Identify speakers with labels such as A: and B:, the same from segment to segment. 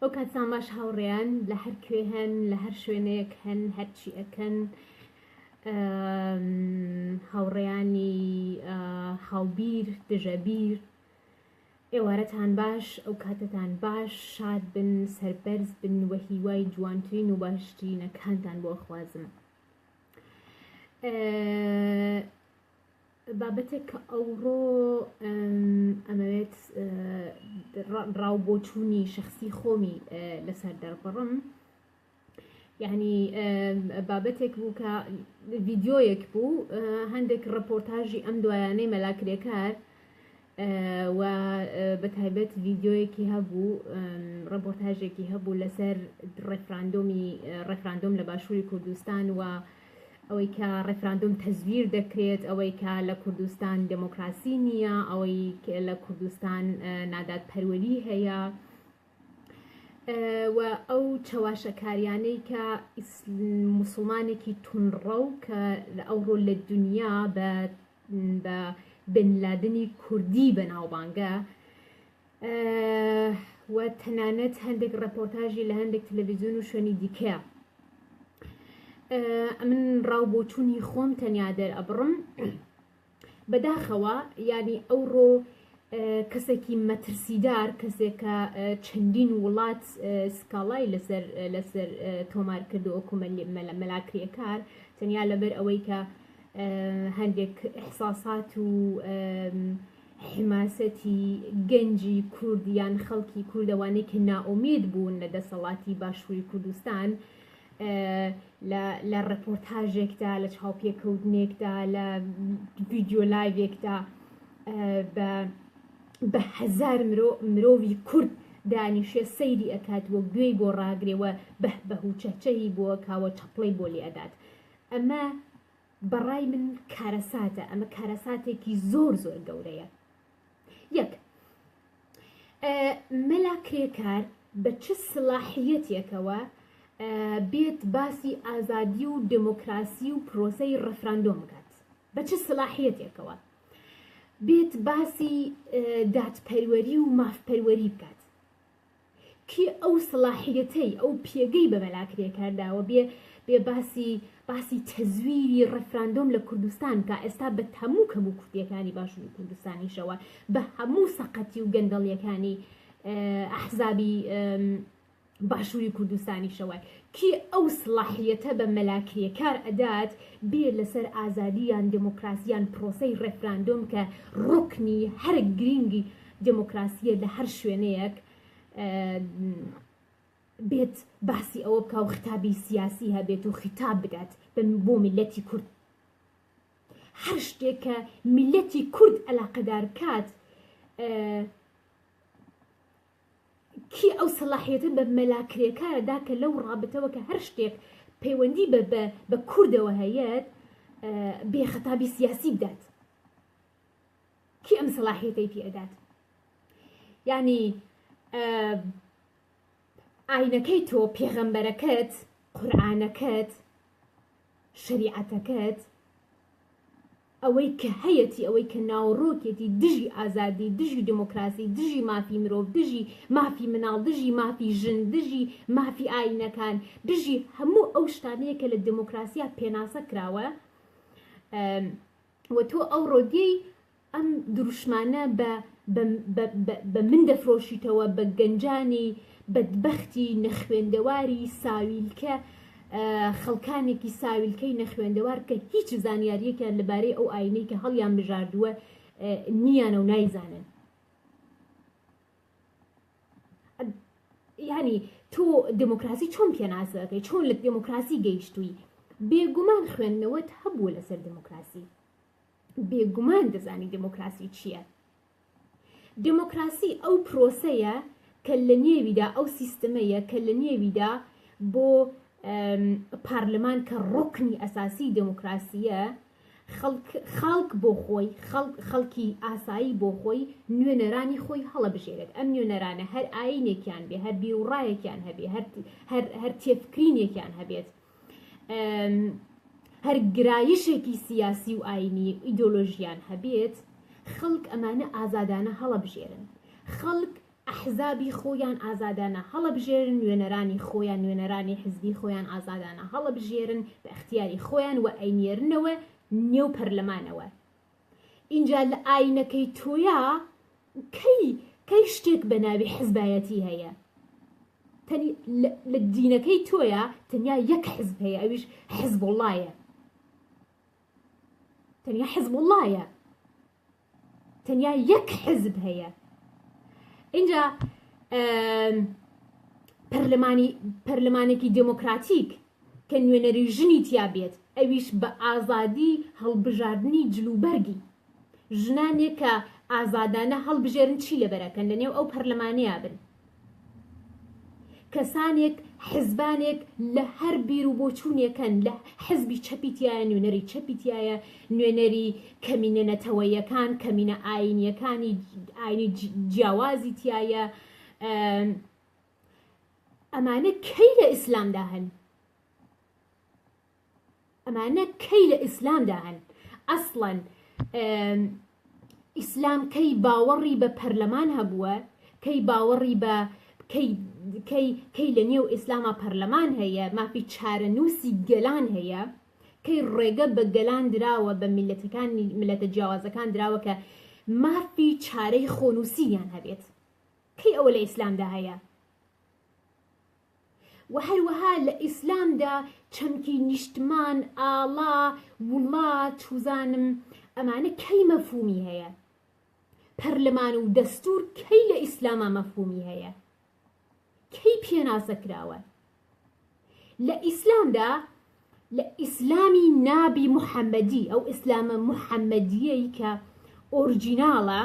A: ئەو کاتسان باش هاوڕێیان لە هەر کوێ هەن لە هەر شوێنەیەک هەن هەرچی ئەکەن هاوڕێیانی هاوبیر دژەبیر ئێوارەتان باش ئەو کاتتان باش شاد بن سەربەرز بن وە هیوای جوانترین و باشترینەکانتان بۆ خوازم بابەتێک کە ئەوڕۆ ئەمەوێت ڕاو بۆچوونی شخصی خۆمی لەسەر دەربڕم یعنی بابەتێک بوو کە ڤیددیۆیەک بوو هەندێک ڕپۆرتاژی ئەم دوایانەی مەلاکرێکار و بە تایبەت ڤیدیۆیەکی هەبوو ڕەپۆرتاژێکی هەبوو لەسەر ڕێفراندۆمی ڕێفراندۆم لە باشووری کوردستان و ئەوەی کە ڕێفراندۆم تەزویر دەکرێت ئەوەی کە لە کوردستان دموکراسی نییە ئەوەی لە کوردستان نادات پەروەری هەیە و ئەو چەواشەکاریانەی کە مسلمانێکی تونڕە و کە ئەوڕۆ لە دنیا بە بە بن لادنی کوردی بەناوبانگە و تەنانەت هەندێک ڕپۆرتاژی لە هەندێک تەلەڤیزیون و شوێنی دیکەیە من ڕاو بۆچوونی خۆم تەنیا دەر ئەبڕم بەداخەوە ینی ئەوڕۆ کەسێکی مەترسیدار کەسێکە چەندین وڵات سکاڵای لەسەر لەسەر تۆمار کردو ئۆکومە مەلاکرێکار تەنیا لەبەر ئەوەی کە هەندێک ئیحساسات و حماسەتی گەنجی کورد یان خەڵکی کوردەوانەی کە نائۆمید بوون لە دەسەڵاتی باشووری کوردستان لە ڕپۆرتاژێکدا لە چاوپێکەوتنێکدا لە ویددیو لایڤێکدا بە بە هزار مرۆ مرۆڤی کورد دانیشێ سەیری ئەکات وە گوێی بۆ ڕاگرێەوە بەه بەه و چەچەهی بۆ کاوە چەپڵەی بۆ لێ ئەدات ئەمە بە ڕای من کارەساتە ئەمە کارەساتێکی زۆر زۆر گەورەیە یەک مەلا کرێکار بە چ سلاحیەتێکەوە بێت باسی ئازادی و دموکراسی و پرۆسەی ڕفراندۆم بکات بە چ سلاحیەتێکەوە بێت باسی دادپەروەری و مافپەروەری بکات کێ ئەو سەڵاحیەتەی ئەو پێگەی بە مەلا کرێکار داوە بێ بێ باسی باسی تەزویری ڕێفراندۆم لە کوردستان بکا ئێستا بە هەموو کەم و کورتیەکانی باشوری کوردستانیشەوە بە هەموو سەقەتی و گەندەڵیەکانی ئەحزابی باشوری کوردستانیشەوە کێ ئەو سڵاحیەتە بە مەلا کرێکار ئەدات بێ لەسەر ئازادیان دموکراسیان پرۆسەی ڕێفراندۆم کە ڕوکنی هەرە گرینگی دێمۆکراسییە لە هەر شوێنەیەک بێت باسی ئەوە بکە و خیتابی سیاسی هەبێت و خیتاب بدات بۆ میلەتی کورد هەر شتێک کە میلەتی کورد ئەلاقەدار کات کی ئەو سەلاحیەتە بە مەلاکرێکارەدا کە لەو ڕابەتەوە کە هەر شتێک پەیوەندی بە بە کوردەوە هەیەت بێخەتابی سیاسی بدات کێ ئەم سەلاحیەتەی پێ ئەدات یعنی ئاینەکەی تۆ پێغەمبەرەکەت قورآانەکەت شریعەتەکەت ئەوەی کە هەیەتی ئەوەی کە ناوەڕۆکێتی دژی ئازادی دژی دموکراسی دژی مافی مرۆڤ دژی مافی مناڵ دژی مافی ژن دژی مافی ئاینەکان دژی هەموو ئەو شتانەیە کە لە دموکراسیا پێناسە کراوە و تۆ ئەوڕۆ دێی ئەم دروشمانە بە بە بە بە بە من دەفرۆشیتەوە بە گەنجانی بەدبەختی نەخوێندەواری ساویلکە خەڵکانێکی ساویلکەی نەخوێندەوار کە هیچ زانیاریەکیان لەبارەی ئەو ئاینەی کە هەڵیان بژاردووە نیانە و نایزانن یعنی تۆ دموکراسی چۆن پێناسەکەی چۆن لە دموکراسی گەیشتووی بێگومان خوێندنەوەت هەبوو لەسەر دموکراسی بێگومان دەزانی دموکراسی چییە دموکراسی ئەو پرۆسەیە کە لە نێویدا ئەو سیستمەیە کە لە نێویدا بۆ پارلمان کە ڕکنی ئەساسی دموکراسیە خەڵک خاڵک بۆ خۆی، خەڵک خەڵکی ئاسایی بۆ خۆی نوێنەرانی خۆی هەڵەبژێرێت. ئەم نوێنەرانە هەر ئایینێکیان بێ، هەر بیروڕایەکیان هەبێ، هەر هەر هەر تێفکرینێکیان هەبێت، هەر گرایشێکی سیاسی و ئایینی و ئیدۆلۆژییان هەبێت، خەڵک ئەمانە ئازادانە هەڵەبژێرن. خەڵک ئەحزابی خۆیان ئازادانە هەڵەبژێرن، نوێنەرانی خۆیان، نوێنەرانی حزبی خۆیان ئازادانە هەڵەبژێرن بە ئیختیاری خۆیان و ئەینێرنەوە نێو پەرلەمانەوە. ئینجا لە ئاینەکەی تۆیا کەی کەی شتێک بە ناوی حزبایەتی هەیە؟ تەنی لە دینەکەی تۆیا تەنیا یەک حزب هەیە ئەویش حزبوڵایە. تەنیا حزبوڵایە. تەنیا یەک حزب هەیە اینجا پەرلەمانی پەرلەمانێکی دموکراتیک کە نوێنەری ژنی تیا بێت ئەویش بە ئازادی هەڵبژاردننی جلوبەرگی ژنانێک کە ئازادانە هەڵبژێرن چی لەبەرەکەن لەنێو ئەو پەرلەمانەیە بن کەسانێک حزبانێک لە هەر بیر و بۆچوونێکن لە حزبی چەپی تیایە نوێنەری چەپی تیایە نوێنەری کەمینە نەتەوەیەکان کەمینە ئاینیەکانی ئاینی جیاوازی تایە ئەمانە کەی لە ئیسلامدا هەن ئەمانە کەی لە ئیسلامدا هەن ئەسڵەن ئیسلام کەی باوەڕی بە پەرلەمان هەبووە کەی باوەڕی بە کەی لە نێو ئیسلامە پەرلەمان هەیە مافی چارەنووسی گەلان هەیە کەی ڕێگە بە گەلان دراوە بە میلەتەکانی ملەتە جیاوازەکان دراوە کە مافی چارەی خۆنووسییان هەبێت کەی ئەوە لە ئیسلامدا هەیە وە هەروەها لە ئیسلامدا چەمکی نیشتمان، ئاڵا، وڵات وزانم ئەمانە کەی مەفهومی هەیە؟ پەرلەمان و دەستور کەی لە ئیسلاما مەفهومی هەیە؟ کەی پێناسە کراوە؟ لە ئیسلامدا لە ئیسلامی نابی محمدی، ئەو ئیسلامە محمدییەی کە ئۆرجیناڵە،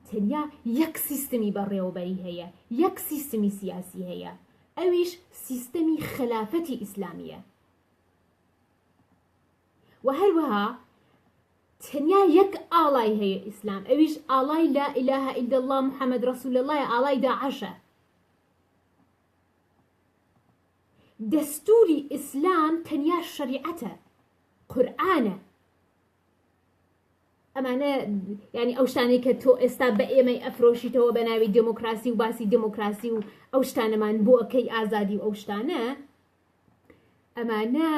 A: تەنیا یەک سیستمی بەڕێوەبەری هەیە، یەک سیستمی سیاسی هەیە، ئەویش سیستەمی خەلافەتی ئیسلامییە. و هەروەها تەنیا یەک ئاڵای هەیە ئیسلام، ئەویش ئاڵای لا ئیلاهە ئیلا اللە محەمەد ڕەسول اللە ئاڵای داعەشە. دەستوری ئیسلام تەنیا شەریعەتە قورئانە ئەمانە ینی ئەو شتانەی کە تۆ ئێستا بە ئێمەی ئەفرۆشیتەوە بە ناوی دموکراسی و باسی دموکراسی و ئەو شتانەمان بۆ ئەەکەی ئازادی و ئەو شتانە ئەمانە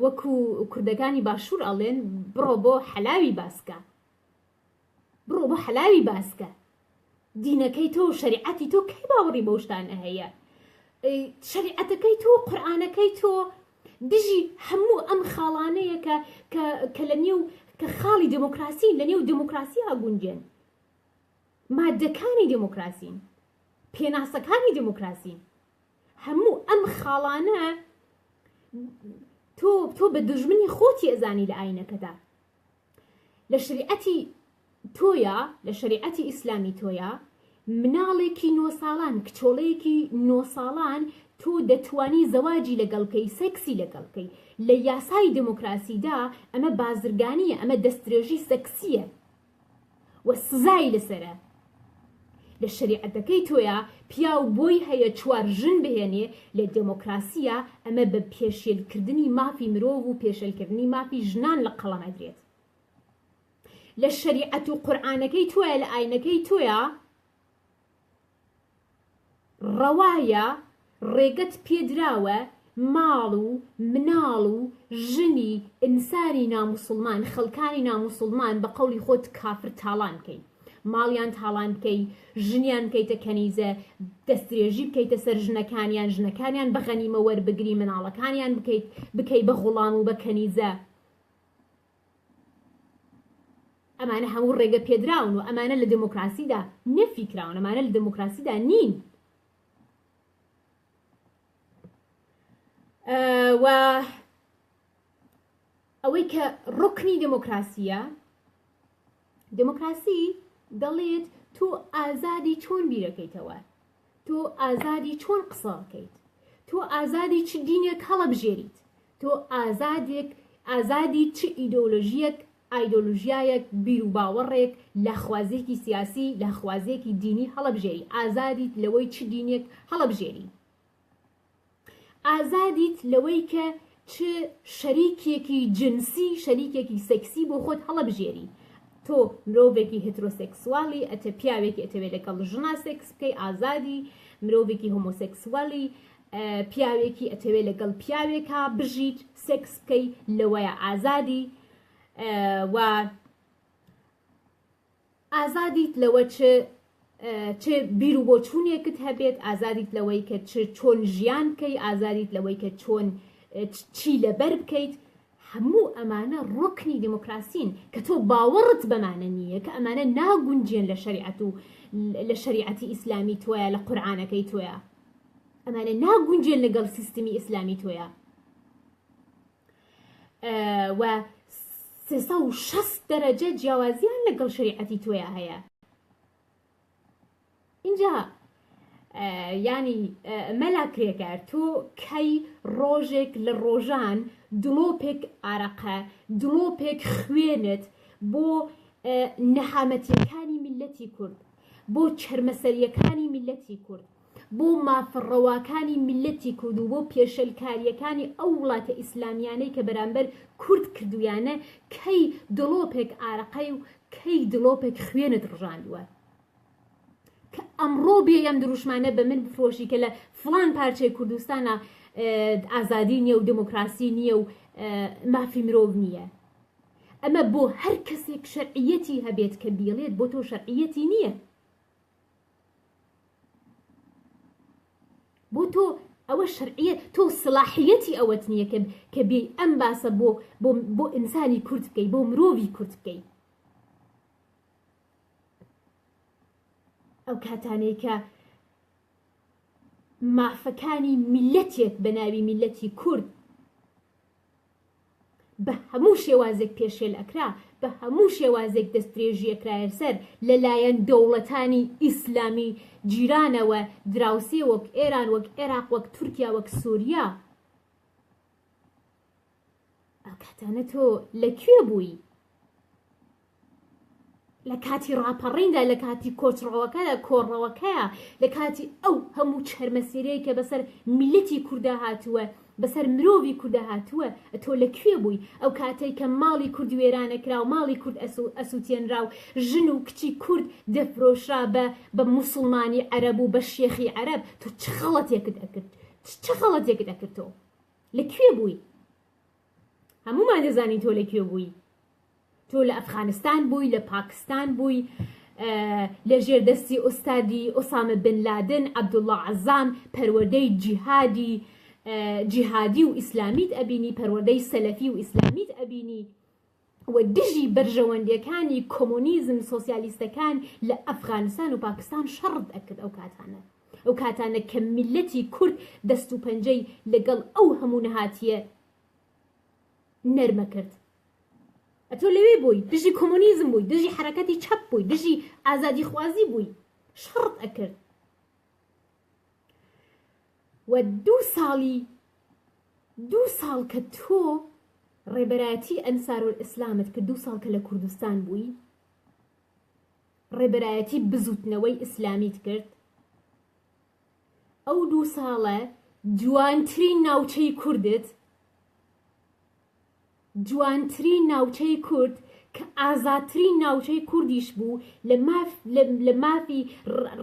A: وەکو کوردەکانی باشوور ئەڵێن بڕۆ بۆ حەلاوی باسکە بڕۆ بۆ حەلاوی باسکە دینەکەی تۆ و شەریعەتی تۆ کەی باوەڕی بەو شتانە هەیە شەریعەتەکەی تۆ قورآانەکەی تۆ دژی هەموو ئەم خاڵانەیە کە کە لە نێو کە خاڵی دموکراسی لە نێو دموکراسی هاگونجێن مادەکانی دموکراسین پێناسەکانی دموکراسی هەموو ئەم خاڵانە تۆ تۆ بە دژمنی خۆتی ئەزانی لە ئاینەکەدا لە شریعەتی تۆیا لە شەریعەتی ئیسلامی تۆیا مناڵێکی نۆ ساڵان کچۆڵەیەکی نۆ ساڵان تۆ دەتوانی زەواجی لەگەڵکەی سەکسی لەگەڵکەی لە یاسای دموکراسیدا ئەمە بازرگانیە ئەمە دەسترێژی سەکسیە و سزای لەسەرە لە شەریعەتەکەی تۆیا پیاو بۆی هەیە چوار ژن بهێنێ لە دێمۆکراسیا ئەمە بە پێشێل کردنی مافی مرۆڤ و پێشێل کردنی مافی ژنان لە قەڵەم ئەدرێت لە شەریعەت و قورعانەکەی تۆیە لە ئاینەکەی تۆیە ڕەوایە ڕێگەت پێدراوە ماڵ و مناڵ و ژنی ئینسانی ناموسڵمان خەڵکانی ناموسڵمان بە قەولی خۆت کافر تاڵان کەی ماڵیان تاڵان بکەی ژنیان بکەیتە کەنیزە دەستدرێژی بکەیتە سەر ژنەکانیان ژنەکانیان بە غەنیمە وەربگری مناڵەکانیان بکەیت بکەی بە غوڵام و بە کەنیزە ئەمانە هەموو ڕێگە پێدراون و ئەمانە لە دێمۆکڕاسیدا نەفی کراون، ئەمانە لە دێمۆکڕاسیدا نین. و ئەوەی کە ڕوکنی دێمۆکڕاسییە دێمۆکڕاسی دەڵێت تۆ ئازادی چۆن بیرەکەیتەوە، تۆ ئازادی چۆن قسەکەیت، تۆ ئازادی چ دینێک هەڵەبژێریت، تۆ ئازادێک ئازادی چ ئیدۆلۆژیەک ئایدۆلژیایەک بیروباوەڕێک لاخوازیەکی سیاسی لاخوازیەکی دینی هەڵەبژێری ئازادیت لەوەی چ دینێک هەڵەبژێری. ئازادیت لەوەی کە چ شەریکێکی جنسی شەریکێکی سێکسی بۆ خۆت هەڵەبژێری تۆ مرۆڤێکی هترۆسێکسوالی ئەتە پیاوێکی ئەتەوێ لەگەڵ ژنا سێکس بکەی ئازادی مرۆڤێکی هۆمۆسێکسوالی پیاوێکی ئەتەوێ لەگەڵ پیاوێکا بژیت سێکس بکەی لەوەیە ئازادی و ئازادیت لەوە چ چ بیر و بۆچوونێکت هەبێت ئازادیت لەوەی کە چ چۆن ژیان بکەی ئازادیت لەوەی کە چۆن چی لەبەر بکەیت هەموو ئەمانە ڕۆکنی دیموکراسین کە تۆ باوەڕت بەمانە نییە کە ئەمانە ناگونجێن لە شریعەت و لە شریعەتی ئیسلامی تۆیە لە قورآانەکەی تۆیە ئەمانە ناگونجێن لەگەڵ سیستمی ئیسلامی تۆیە و سێسە و شەست دەرەجە جیاوازیان لەگەڵ شریعەتی تۆیا هەیە اینجا ینی مەلا کرێکار تۆ کەی ڕۆژێک لە ڕۆژان دڵۆپێک ئارەقە دڵۆپێک خوێنت بۆ نەهامەتیەکانی میلەتی کورد بۆ چرمەسەریەکانی میلەتی کورد بۆ مافە ڕەواکانی میللەتی کورد و بۆ پێشێلکارییەکانی ئەو وڵاتە ئیسلامییانەی کە بەرامبەر کورد کردوویانە، کەی دڵۆپێک ئارەقەی و کەی دڵۆپێک خوێنت ڕژاندووە؟ کە ئەمڕۆ بێی ئەم دروشمانە بە من بفرۆشی کە لە فڵان پارچەی کوردستانە ئازادی نییە و دموکراسی نییە و مافی مرۆڤ نییە. ئەمە بۆ هەر کەسێک شەرعیەتی هەبێت کە بیڵێت بۆ تۆ شەرعیەتی نییە. بۆ تۆ ئەوە شەرعیە تۆ سلاحیەتی ئەوەت نییە کە کە بێی ئەم باسە بۆ بۆ بۆ ئینسانی کورد بکەی بۆ مرۆڤی کورد بکەی ئەو کاتانەی کە مافەکانی میلەتێک بە ناوی میلەتی کورد بە هەموو شێوازێک پێشێل ئەکرا، بە هەموو شێوازێک دەستدرێژی ئەکرایە سەر، لە لایەن دەوڵەتانی ئیسلامی جیرانەوە، دراوسێ وەک ئێران، وەک عێراق، وەک تورکیا، وەک سوریا. ئەو کاتانە تۆ لە کوێ بووی؟ لە کاتی ڕاپەڕیندا لە کاتی کۆچڕەوەکەدا کۆڕەوەکەیە لە کاتی ئەو هەموو چەرمەسیرەیە کە بەسەر میلەتی کوردا هاتووە بەسەر مرۆڤی کوردا هاتووە ئەتۆ لە کوێ بووی ئەو کاتەی کە ماڵی کورد وێرانەکرا و ماڵی کورد ئەسووتێنرا و ژن و کچی کورد دەفرۆشرا بە بە موسڵمانی عەرەب و بە شێخی عەرەب تۆ چ خەڵەتێکت ئەکرد چ خەڵەتێکت ئەکرد تۆ لە کوێ بووی هەموومان دەزانین تۆ لە کوێ بووی تۆ لە ئەفغانستان بووی لە پاکستان بووی لە ژێردەستی ئوستادی ئۆسامە بن لادن عەبدوڵڵا عەزام پەروەردەی جیهادی جیهادی و ئیسلامیت ئەبینی پەروەردەی سەلەفی و ئیسلامیت ئەبینی و دژی بەرژەوەندیەکانی کۆمۆنیزم سۆسیالیستەکان لە ئەفغانستان و پاکستان شەڕت ئەکرد ئەو کاتانە ئەو کاتانە کە میللەتی کورد دەست و پەنجەی لە گەڵ ئەو هەموو نەهاتیە نەرمە کرد ئەتۆ لەوێ بووی دژی کۆمۆنیزم بووی دژی حرەکەتی چەپ بووی دژی ئازادی خوازی بووی شەڕت ئەکرد و دوو ساڵی دوو ساڵ کە تۆ ڕێبەرایەتی ئەنسارول ئیسلامت کرد دوو ساڵ کە لە کوردستان بووی ڕێبەرایەتی بزوتنەوەی ئیسلامیت کرد ئەو دوو ساڵە جوانترین ناوچەی کوردت جوانترین ناوچەی کورد کە ئازاترین ناوچەی کوردیش بوو لە مافی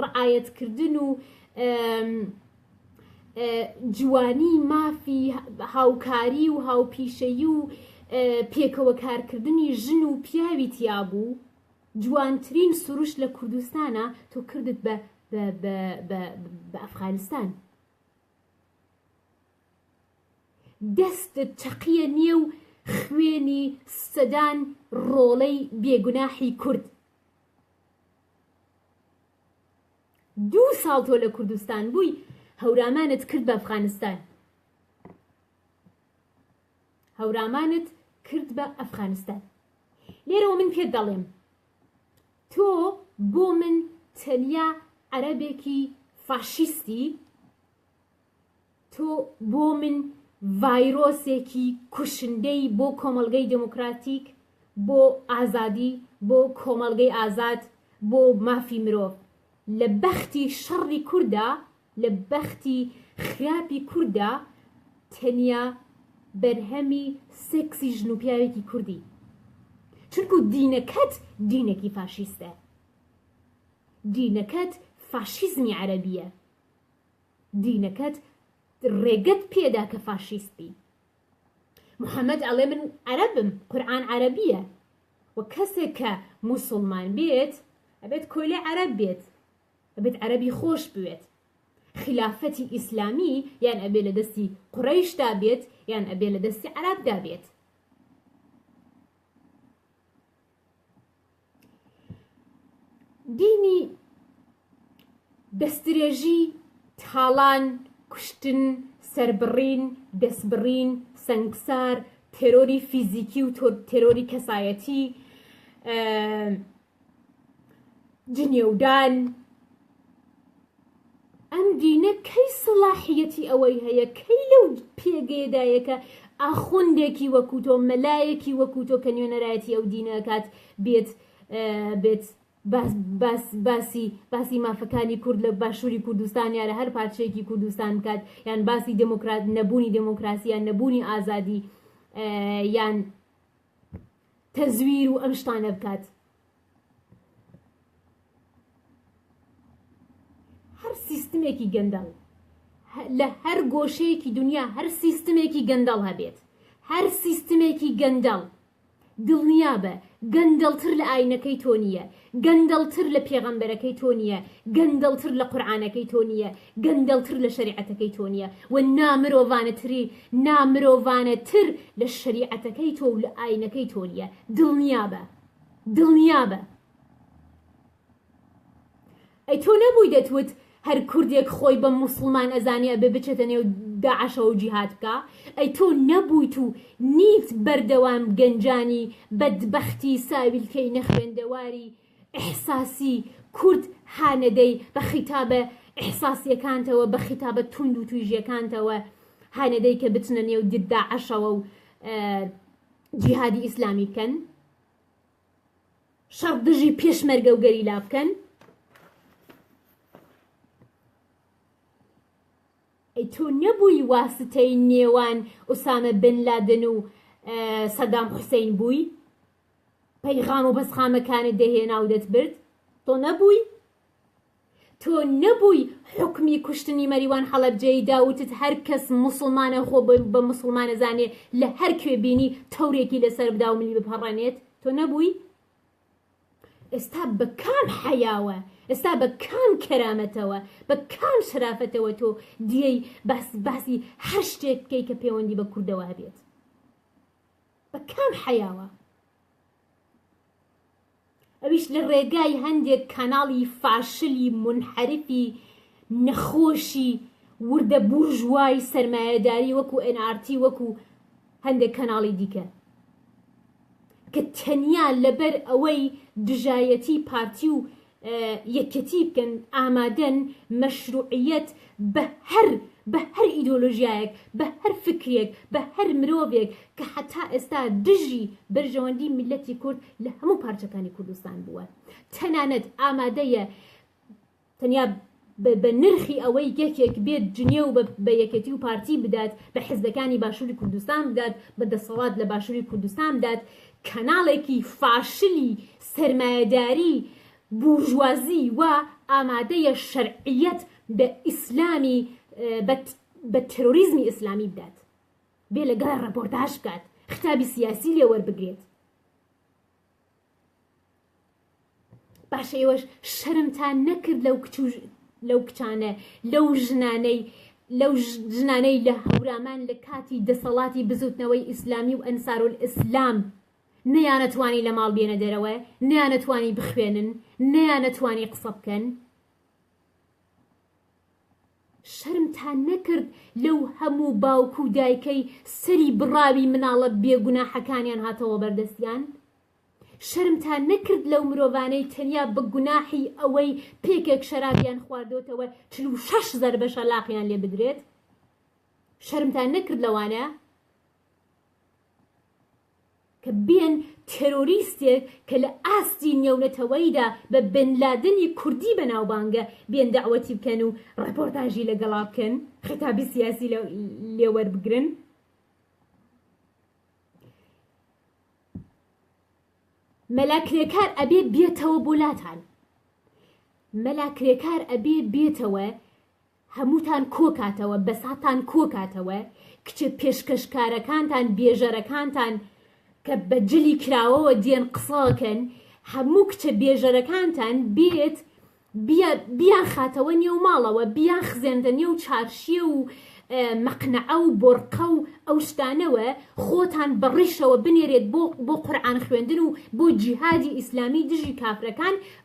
A: رعایەتکردن و جوانی مافی هاوکاری و هاوپیشەیی و پێکەوە کارکردنی ژن و پیاوی تیابوو جوانترین سروش لە کوردستانە تۆ کردت بە ئەفغانستان. دەستت چەقیە نێو خوێنی سەدان ڕۆڵەی بێگوناحی کورد دوو ساڵ تۆ لە کوردستان بووی هەورامانت کرد بە ئەفغانستان هەورامانت کرد بە ئەفغانستان لێرەوە من پێت دەڵێم تۆ بۆ من تەنیا عەرەبێکی فاشیستی تۆ بۆ من ڤایرۆسێکی کوشندەی بۆ کۆمەڵگەی دێموکراتیک، بۆ ئازادی، بۆ کۆمەڵگەی ئازاد، بۆ مافی مرۆڤ. لە بەختی شەڕی کورددا، لە بەختی خراپی کورددا تەنیا بەرهەمی سێکسی ژن و پیاوێکی کوردی. چونکوو دینەکەت دینێکی فاشیستە. دینەکەت فاشیزمی عەرەبییە. دینەکەت ڕێگەت پێدا کە فاشیست بی محەمەد ئەڵێ من عەرەبم قورآن عەرەبیە و کەسێک کە موسڵمان بێت ئەبێت کۆیلە عەرەب بێت ئەبێت عەرەبی خۆش بوێت خلافەتی ئیسلامی یان ئەبێ لە دەستی قڕیشدا بێت یان ئەبێ لە دەستی عرابدا بێت دینی دەستدرێژی، تاڵان، کوشتن، سەربڕین، دەستبڕین، سەنگسار، تێرۆری فیزیکی و تێرۆری کەسایەتی، جنێودان، ئەم دینە کەی سەڵاحیەتی ئەوەی هەیە، کەی لەو پێگەیەدایە کە ئاخوندێکی وەکو تۆ، مەلایەکی وەکو تۆ کە نوێنەرایەتی ئەو دینە ئەکات بێت بێت باس باس باسی باسی مافەکانی کورد لە باشووری کوردستان یا لە هەر پارچەیەکی کوردستان بکات یان باسی دموکرات نەبوونی دموکراسی یان نەبوونی ئازادی یان تەزویر و ئەم شتانە بکات هەر سیستمێکی گەندەڵ لە هەر گۆشەیەکی دنیا هەر سیستمێکی گەندەڵ هەبێت هەر سیستمێکی گەندەڵ دڵنیا بە گەندەڵتر لە ئاینەکەی تۆ نییە گەندەڵتر لە پێغەمبەرەکەی تۆ نییە گەندەڵتر لە قورآانەکەی تۆ نییە گەندەڵتر لە شریعەتەکەی تۆ نییە و نامرۆڤانەتری نامرۆڤانەتر لە شریعەتەکەی تۆ و لە ئاینەکەی تۆ نییە دڵنیا بە دڵنیابە ئەی تۆ نەبووی دەتوت هەر کوردێک خۆی بە موسڵمان ئەزانێ ئەبێ بچێتە نێو داعشەوە و جیهاد بکە ئەی تۆ نەبوویت و نیت بەردەوام گەنجانی بەدبەختی ساویلکەی نەخوێندەواری ئیحساسی کورد هانەدەی بە خیتابە ئیحساسیەکانتەوە بە خیتابە توند و تویژیەکانتەوە هانەدەی کە بچنە نێو داعشەوە و جیهادی ئیسلامی بکەن شەڕ دژی پێشمەرگە و گەریلا بکەن ئەی تۆ نەبووی واستەی نێوان ئوسامە بن لادن و سەدام حوسین بووی پەیغام و بەسخامەکانت دەهێنا و دەتبرد تۆ نەبووی تۆ نەبووی حوکمی کوشتنی مەریوان حەڵەبجەیی داوتت هەر کەس موسڵمانە خۆ بە موسڵمان ئەزانێ لە هەر کوێ بینی تەورێکی لەسەر بدا و ملی بپەڕێنێت تۆ نەبووی؟ ئێستا بە کام حەیاوە ئێستا بە کام کەرامەتەوە بە کام شرافەتەوە تۆ دیێی باس باسی هەر شتێک بکەی کە پەیوەندی بە کوردەوە هەبێت بە کام حەیاوە؟ ئەویش لە ڕێگای هەندێک کاناڵی فاشلی مونحەرفی نەخۆشی وردە بورژوای سەرمایەداری وەکو ئێن ئارتی وەکو هەندێک کەناڵی دیکە کە تەنیا لەبەر ئەوەی دژایەتی پارتی و یەکێتی بکەن ئامادەن مەشروعیەت بە هەر بە هەر ئیدۆلۆژیایەک بە هەر فکرێک بە هەر مرۆڤێک کە حەتا ئێستا دژی بەرژەوەندی میللەتی کورد لە هەموو پارچەکانی کوردستان بووە تەنانەت ئامادەیە تەنیا بە نرخی ئەوەی یەکێک بێت جنێو بە یەکێتی و پارتی بدات، بە حزبەکانی باشوری کوردستان بدات، بە دەسەڵات لە باشوری کوردستان بدات، کەناڵێکی فاشلی سەرمایەداری بورژوازی وا ئامادەیە شەرعیەت بە ئیسلامی بە ترۆریزمی ئیسلامی بدات، بێ لەگەڵ ڕەپۆرتاژ بکات، خیتابی سیاسی لێ وەربگرێت. باشە ئێوەش شەرمتان نەکرد لەو کچ و لەو کچانە لەو ژنانەی لەو ژنانەی لە هەورامان لە کاتی دەسەڵاتی بزوتنەوەی ئیسلامی و ئەنسارول ئیسلام نەیانەتوانی لە ماڵ بێنە دەرەوە نەیانەتوانی بخوێنن نەیانەتوانی قسە بکەن شەرمتان نەکرد لەو هەموو باوک و دایکەی سەری بڕاوی مناڵە بێ گوناحەکانیان هاتەوە بەردەستیان؟ شەرمتان نەکرد لەو مرۆڤانەی تەنیا بە گوناحی ئەوەی پێکێک شەرابیان خواردۆتەوە چل و شەش زەربە شەلاقیان لێ بدرێت؟ شەرمتان نەکرد لەوانە؟ کە بێن تێرۆریستێک کە لە ئاستی نێونەتەوەیدا بە بن لادنی کوردی بەناوبانگە بێن دەعوەتی بکەن و ڕێپۆرتاژی لەگەڵا بکەن خیتابی سیاسی لێ وەربگرن. مەلا کرێکار ئەبێ بێتەوە بۆ لاتان. مەلا کرێکار ئەبێ بێتەوە هەمووتان کۆکاتەوە بەساتان کۆکاتەوە کچە پێشکەشکارەکانتان بێژەرەکانتان کە بە جلی کراوەوە دێن قسەکەن هەموو کچە بێژەرەکانتان بێت بیان خاتەوە نێو ماڵەوە بیان خزێندە نێو چارشیە و مەقنەعە و بۆرقە و ئەو شتانەوە خۆتان بە ڕیشەوە بنێرێت بۆ بۆ قورآان خوێندن و بۆ جیهادی ئیسلامی دژی کافرەکان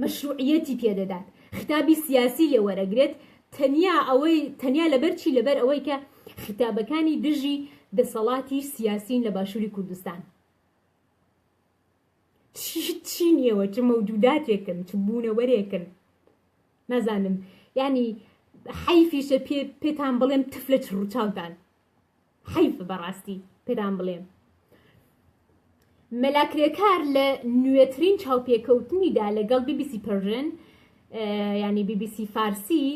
A: مەشروعیەتی پێ دەدات خیتابی سیاسی لێ وەرەگرێت تەنیا ئەوەی تەنیا لەبەر چی لەبەر ئەوەی کە خیتابەکانی دژی دەسەڵاتی سیاسین لە باشوری کوردستان چی نیەوە چ مەودوداتێکن چ بوونەوەرێکن نازانم ینی حەیفیشە پێ پێتان بڵێم تف لە چڕوچاوتان حەیف بەڕاستی پێتان بڵێم مەلا کرێکار لە نوێترین چاوپێکەوتنیدا لەگەڵ بی بی سی پەرژن ینی بی بی سی فارسی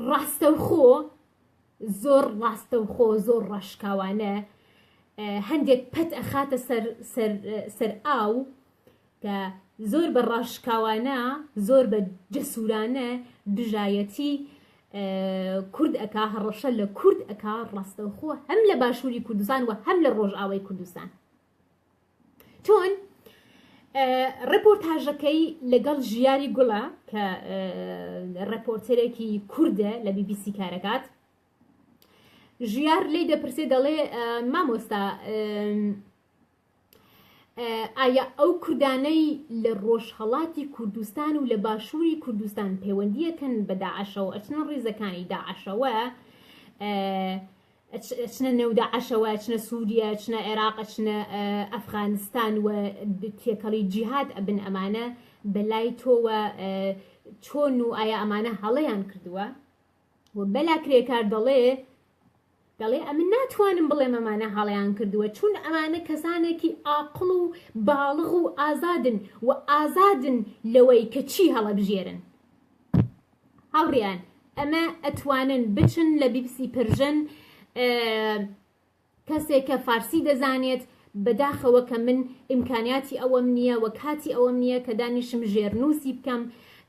A: ڕاستەوخۆ زۆر ڕاستەوخۆ زۆر ڕاشکاوانە هەندێک پەت ئەخاتە سەر ئاو کە زۆر بە ڕاشکاوانە زۆر بە جەسورانە دژایەتی کورد ئەکا هەڕەشە لە کورد ئەکا ڕاستەوخۆ هەم لە باشووری کوردستان و هەم لە ڕۆژئاوای کوردستان چۆن ڕپۆرتاژەکەی لەگەڵ ژیاری گوڵە کە ڕپۆرتەرێکی کوردە لە بیبیسی کارەکات ژیار لی دەپرسێ دەڵێ مامۆستا ئایا ئەو کوردانەی لە ڕۆژهەڵاتی کوردستان و لە باشووری کوردستان پەیوەندیەکەن بە داعشەوە ئەچنە ڕیزەکانی داعشەوە ئەچنە نێودا عشەوە ئەچنە سووریە ئەچنە عێراق ئەچنە ئەفغانستان و تێکەڵی جیهات ئەبن ئەمانە بەلای تۆوە چۆن و ئایا ئەمانە هەڵەیان کردووە و بەلا کرێکار دەڵێ دەڵێ ئەمن ناتوانم بڵێم ئەمانە هەڵەیان کردووە چون ئەمانە کەسانێکی ئاقڵ و باڵغ و ئازادن و ئازادن لەوەی کە چی هەڵەبژێرن هاوڕیان ئەمە ئەتوانن بچن لە بیبسی پرژن کەسێک کە فارسی دەزانێت بەداخەوە کە من ئیمکانیاتی ئەوەم نییە وە کاتی ئەوەم نییە کە دانیشم ژێرنووسی بکەم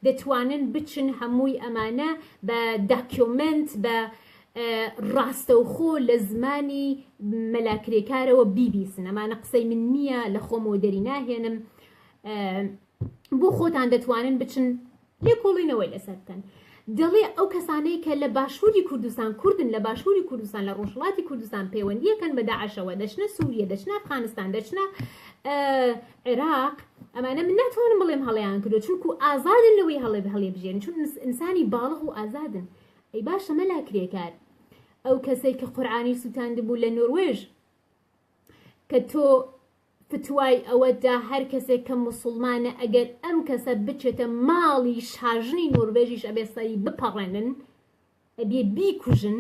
A: دەتوانن بچن هەمووی ئەمانە بە داکیۆمنت بە ڕاستەوخۆ لە زمانی مەلا کرێکارەوە بیبیسن ئەمانە قسەی من نییە لە خۆمەوە دەری ناهێنم بۆ خۆتان دەتوانن بچن لێکۆڵینەوەی لەسەر بکەن دەڵێ ئەو کەسانەی کە لە باشووری کوردستان کوردن لە باشووری کوردستان لە ڕۆژهڵاتی کوردستان پەیوەندیەکەن بە داعشەوە دەچنە سووریە دەچنە ئەفغانستان دەچنە عێراق ئەمانە من ناتوانم بڵێم هەڵیان کردو چونکو ئازادن لەوەی هەڵێ هەڵێ بژێن چون ئینسانی باڵغ و ئازادن ئەی باشە مەلا کرێکار ئەو کەسەی کە قورعانی سووتاندبوو لە نوروێژ کە تۆ فتوای ئەوەدا هەر کەسێک کە مسلمانە ئەگەر ئەم کەسە بچێتە ماڵی شاژنی نوروێژیش ئەبێ سەری بپەڕێنن ئەبێ بیکوژن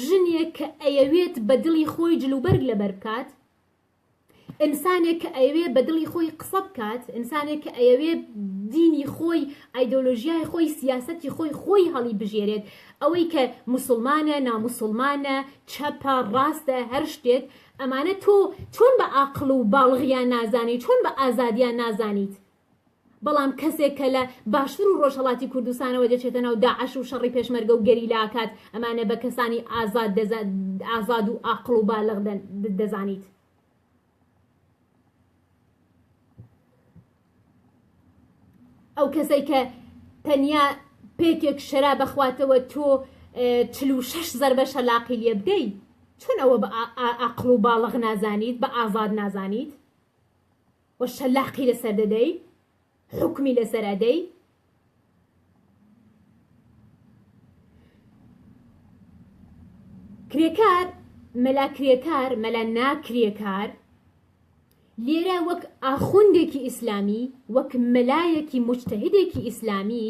A: ژنێک کە ئەیەوێت بە دڵی خۆی جلوبەرگ لەبەر بکات ئینسانێک کە ئەیەوێ بە دڵی خۆی قسە بکات، ئینسانێک کە ئەیەوێ دینی خۆی، ئایدۆلۆژیای خۆی، سیاسەتی خۆی، خۆی هەڵیبژێرێت، ئەوەی کە موسڵمانە، ناموسڵمانە، چەپە، ڕاستە، هەر شتێک، ئەمانە تۆ چۆن بە ئاقڵ و باڵغیان نازانیت، چۆن بە ئازادیان نازانیت؟ بەڵام کەسێک کە لە باشور و ڕۆژهەڵاتی کوردستانەوە دەچێتە ناو داعش و شەڕی پێشمەرگە و گەریلا ئەکات، ئەمانە بە کەسانی ئازاد دەزانیت، ئازاد و ئاقڵ و بالغ دەزانیت. ئەو کەسەی کە تەنیا پێکێک شەراب ئەخواتەوە تۆ چل و شەش زەربە شەلاقی لێ بدەی، چۆن ئەوە بە ئاقڵ و باڵغ نازانیت، بە ئازاد نازانیت؟ و شەلاقی لەسەر دەدەی حوکمی لەسەر ئەدەی کرێکار مەلا کرێکار مەلا ناکرێکار لێرە وەک ئاخوندێکی ئیسلامی وەک مەلایەکی مجتهدێکی ئیسلامی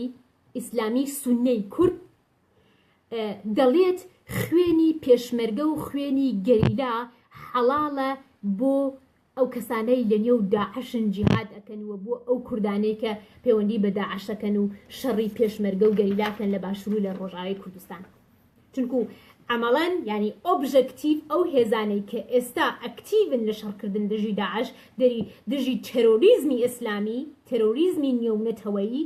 A: ئیسلامی سنەی کورد دەڵێت خوێنی پێشمەرگە و خوێنی گەریلا حەڵاڵە بۆ ئەو کەسانەی لە نێو داعشن جیهاد ئەکەن و بۆ ئەو کوردانەی کە پەیوەندی بە داعشەکەن و شەڕی پێشمەرگە و گەریلاکەن لە باشوور و لە ڕۆژاوی کوردستان چونکو عملان یعنی ئۆبژەکتیو ئەو هێزانەی کە ئێستا ئەکتیون لە شەڕکردن دژی داعش دەری دژی تەرۆریزمی ئیسلامی تەرۆریزمی نێونەتەوەیی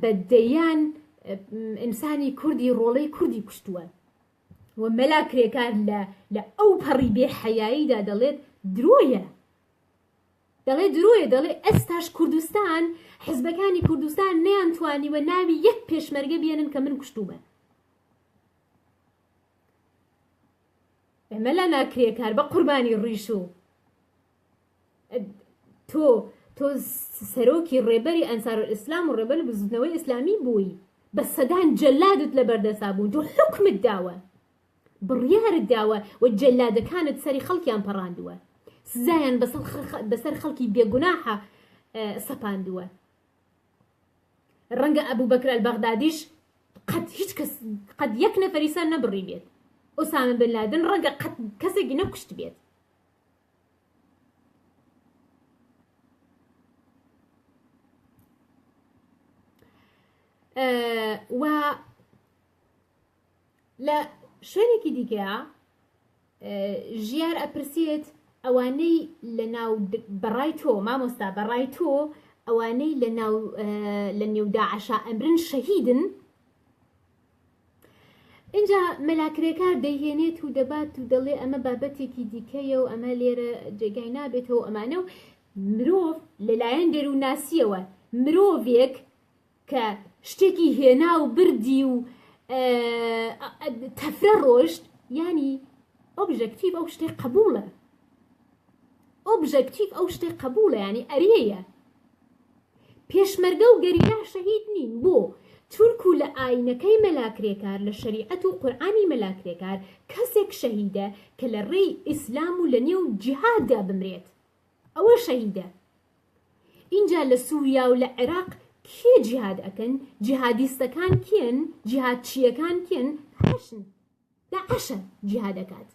A: بە دەیان ئینسانی کوردی ڕۆڵەی کوردی کوشتووە و مەلا کرێکار لە لە ئەو پەڕی بێ حەیاییدا دەڵێت درۆیە دەڵێ درۆیە دەڵێ ئەستاش کوردستان حزبەکانی کوردستان نیان توانیوە ناوی یەک پێشمەرگە بێنن کە من کوشتومە ئەمە لا ناکرێ کار بە قوربانی ڕیش و تۆ تۆ سەرۆکی ڕێبەری ئەنسارولئیسلام و ڕێبەری بزووتنەوەی ئیسلامی بووی بە سەدان جەلادت لە بەردەسا بوون تۆ حکمت داوە بڕیارت داوە و جەلادەکانت سەری خەڵکیان پەڕاندووە سزایان بەسەر خەڵکی بێگوناحە سەپاندووە ڕەنگە ئەبوو بەکرال بەغدادیش قەت هیچ کەس قەت یەک نەفەریسان نەبڕی بێت ئۆسامە بن لادن ڕەنگە قەت کەسێکی نەکوشت بێت و لە شوێنێکی دیکەیە ژیار ئەپرسێت ئەوانەی لە ناو بەڕای تۆ مامۆستا بەڕای تۆ ئەوانەی لە ناو لە نێوداعشا ئەمرن شەهیدن اینجا مەلاکرێکار دەیهێنێت و دەبات و دەڵێ ئەمە بابەتێکی دیکەیە و ئەمە لێرە جێگای نابێتەوە ئەمانە و مرۆڤ لەلایەن دەرووناسیەوە مرۆڤێک کە شتێکی هێنا و بردی و تەفرە ڕۆشت ینی ئۆبژەکتیڤ ئەو شتێک قبولە ئۆبژەکتیڤ ئەو شتەی قبوڵە یانی ئەرێیە پێشمەرگە و گەریلا شەهید نین بۆ چونکو و لە ئاینەکەی مەلاکرێکار لە شەریعەت و قورآانی مەلاکرێکار کەسێک شەهیدە کە لە ڕێی ئیسلام و لە نێو جیهاددا بمرێت ئەوە شەهیدە ئینجا لە سووریا و لە عێراق کێ جیهاد ئەکەن جیهادیستەکان کێن جیهاد چیەکان کێن هەشن داعشە جیهاد ئەکات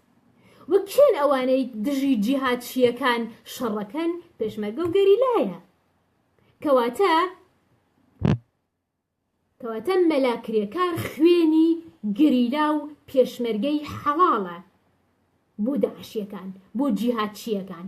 A: وە کێن ئەوانەی دژی جیهادچیەکان شەڕەکەن پێشمەرگە و گەریلایە کەواتە کەواتە مەلا کرێکار خوێنی گەریلا و پێشمەرگەی حەڵاڵە بۆ داعشیەکان بۆ جیهادچیەکان